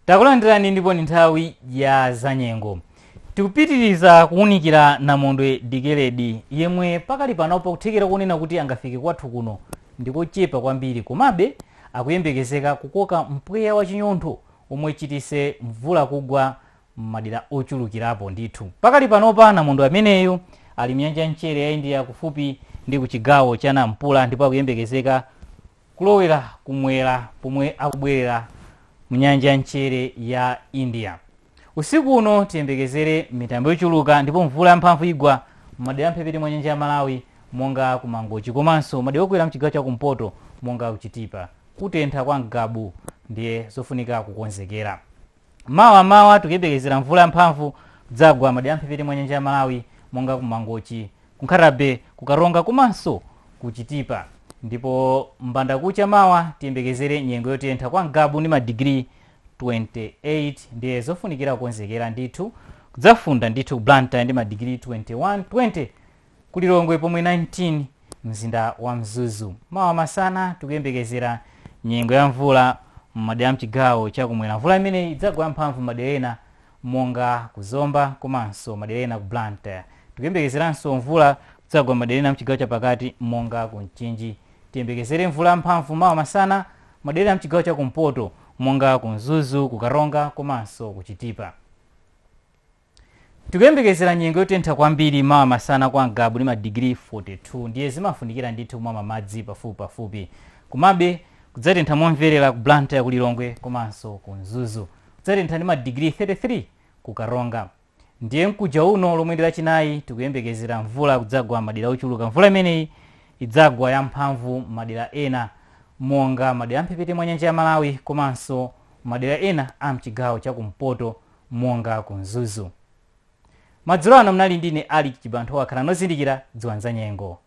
Takulandirani ndipo ndi nthawi ya zanyengo. Tikupitiriza kuwunikira Namondwe Dikeledi yemwe pakali panopa kuthekera konena kuti angafike kwathu kuno ndikochepa kwambiri komabe akuyembekezeka kukoka mpweya wa chinyontho omwe uchititse mvula kugwa m'madera ochulukirapo ndithu. Pakali panopa namondwe ameneyu ali mnyanja ya mchere ya India kufupi ndi ku chigawo cha Nampula ndipo akuyembekezeka kulowera kumwera pomwe akubwerera mu nyanja ya mchere ya india usiku uno tiyembekezere mitambo yochuluka ndipo mvula yamphamvu igwa m'madera amphepete mwa nyanja ya malawi monga ku mangochi komanso madera okwera mchigawo cha kumpoto monga kuchitipa kutentha kwa ngabu ndiye zofunika kukonzekera mawa mawa tikuyembekezera mvula yamphamvu kudzagwa m'madera amphepete mwa nyanja ya malawi monga ku mangochi ku nkhata bay ku karonga komanso ku chitipa ndipo mbandakucha mawa tiyembekezere nyengo yotentha kwa ngabu ndi madigiri 28 ndiye zofunikira kukonzekera ndithu kudzafunda ndithu ku blantyre ndi madigiri 21 20 Ku Lilongwe pomwe 19 mzinda wa Mzuzu. Mawa masana tikuyembekezera nyengo ya mvula m'madera a mchigawo cha kumwera. Mvula imeneyi idzagwa yamphamvu m'madera ena monga ku Zomba komanso madera ena ku Blantyre. Tikuyembekezeranso mvula kudzagwa m'madera ena a mchigawo chapakati monga ku Mchinji. Tiyembekezere mvula yamphamvu mawa masana madera ena a mchigawo cha kumpoto monga ku Mzuzu, ku Karonga komanso ku Chitipa. Tikuyembekezera nyengo yotentha kwambiri mawa masana kwa Ngabu ndi madigiri 42 ndiye zimafunikira ndithu kumamwa madzi pafupipafupi. Komabe, kudzatentha momverera ku Blantyre, ku Lilongwe komanso ku Mzuzu. Kudzatentha ndi madigiri 33 ku Karonga. Ndiye mkuja uno lomweli ndi Lachinayi tikuyembekezera mvula kudzagwa m'madera ochuluka. Mvula imeneyi idzagwa yamphamvu m'madera ena monga madera a m'mphepete mwa nyanja ya Malawi komanso madera ena a m'chigawo cha kumpoto. monga ku Mzuzu. Madzulo ano munali ndi ine Alick Chibanthowa. Khalani ozindikira dziwani zanyengo.